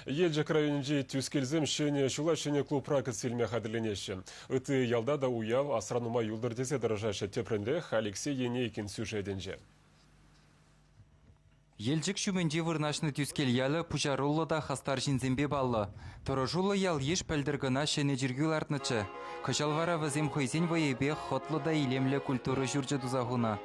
Елчӗк районӗнчи Тӳскелсем ҫӗнӗ ҫула ҫӗнӗ клубра кӗтсе илме хатӗрленеҫҫӗ. Ытти ялта та уяв асра нумай юлтӑр тесе тӑрӑшаҫҫӗ тепринрех Алексей Енейкин сюжетӗнче. Елчӗк ҫумӗнче вырнаҫнӑ Тӳскел ялӗ пуҫаруллӑ та хастар ҫынсемпе паллӑ. Тӑрӑшуллӑ ял-йыш пӗлтӗр кӑна ҫӗнӗ чиркӳ лартнӑччӗ. Кӑҫал вара вӗсем хӑйсен вӑйӗпех хӑтлӑ та илемлӗ культура ҫурчӗ туса хунӑ.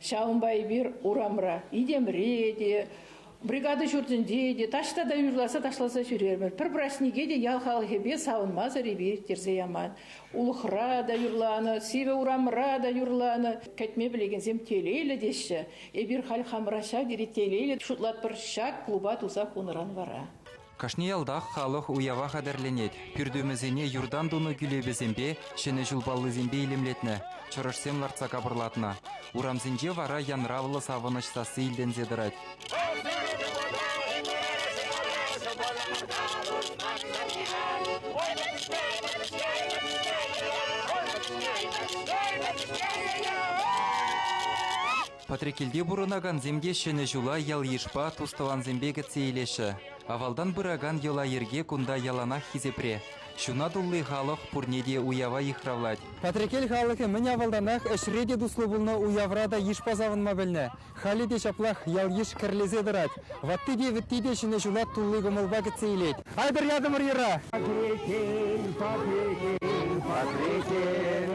Ҫавӑнпа эпир урамра Итемри те, бригада ҫуртӗнче те таҫта та юрласа ташласа ҫӳрермӗр. Пӗр праҫнике те ял халӑхӗпе савӑнмасӑр эпир ирттерсе яман. Улӑхра та юрланӑ, сивӗ урамра та юрланӑ. Кӗтме пӗлекенсем телейлӗ теҫҫӗ. Эпир халь хамӑра ҫав тери телейлӗ шутлатпӑр ҫак клуба туса хунӑран вара. Кашни ялтах халӑх уява хатӗрленет. Пӳртӳмӗсене юртан тунӑ кӳлепесемпе, Ҫӗнӗ ҫул паллисемпе илемлетнӗ, чӑрӑшсем лартса капӑрлатнӑ. Урамсенче вара янравлӑ савӑнӑҫ сасси илтӗнсе тӑрать. Патреккелте пурӑнакансем те Ҫӗнӗ ҫула ял-йышпа, тус-тӑвансемпе кӗтсе илеҫҫӗ. Авалтан пыракан йӑла-йӗрке кунта яланах хисепре. Ҫуна тулли халӑх пурне те уява йыхравлать. Патреккел халӑхӗ мӗн авалтанах ӗҫре те туслӑ пулнӑ, уявра та йышпа савӑнма пӗлнӗ. Халӗ те ҫаплах ял-йыш кӗрлесе тӑрать. Ватти те, вӗтти те Ҫӗнӗ ҫула тулли кӑмӑлпа кӗтсе илет. Айтӑр ятӑмӑр йӑра. Патреккел, Патреккел, Патреккел.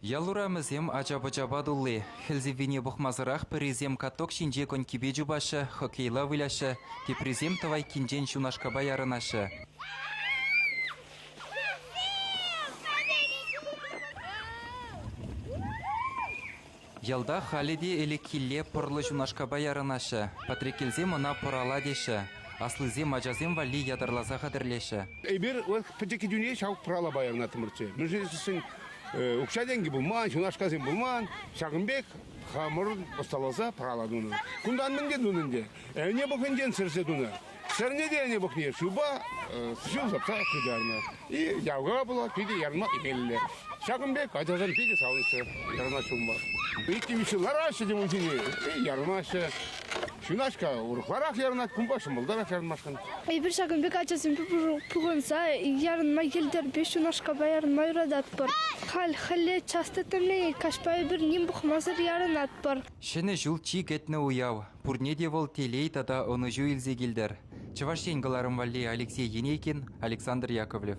Ял урамӗсем ача-пӑчапа тулли. Хӗл сиввине пӑхмасӑрах пӗрисем каток ҫинче конькипе чупаҫҫӗ, хоккейла выляҫҫӗ, теприсем тӑвайккинчен ҫунашкапа ярӑнаҫҫӗ. Ялта халӗ те ӗлӗкхилле пӑрлӑ ҫунашкапа ярӑнаҫҫӗ. Патреккелсем ӑна пӑрала теҫҫӗ, аслисем ачасем валли ятарласа хатӗрлеҫҫӗ. Эпир пӗчӗк кӗтӳне ҫав пӑралапа ярӑнаттӑмӑрччӗ. Мӗншӗн тесен укҫа-тенкӗ пулман, ҫунашкасем пулман. Ҫакӑн пек хамӑр ӑсталаса пӑрала тунӑ. Кунтан мӗн те тунӑ ӗнтӗ, ӗне пӑхӗнчен сӗрсе тунӑ. Сӗрнӗ те ӗне пӑхни шывпа ҫул сапса хытарнӑ. И явка пулать, питӗ ярма имелле. Ҫакӑн пек ачасем питӗ савӑнҫҫӗ ярма ҫумма. Иккӗ-виҫҫӗ лараҫҫӗ те унсине, ярӑнаҫҫӗ. Ҫунаҫка урӑхларах ярӑнать, кунпа ҫӑмӑлтарах ярӑнмашкӑн. Эпир ҫакӑн пек ачасемпе пухӑнса ярӑнма йӗлтӗрпе ҫунашкапа ярӑнма юрататпӑр. Халь хӗлле час тӗттӗмленет, каҫпа эпир ним пӑхмасӑр ярӑнатпӑр. Ҫӗнӗ ҫул чи кӗтнӗ уяв. Пурне те вӑл телей тата ӑнӑҫу илсе килтӗр, Чӑваш Ен кӑларӑм валли Алексей Енейкин, Александр Яковлев.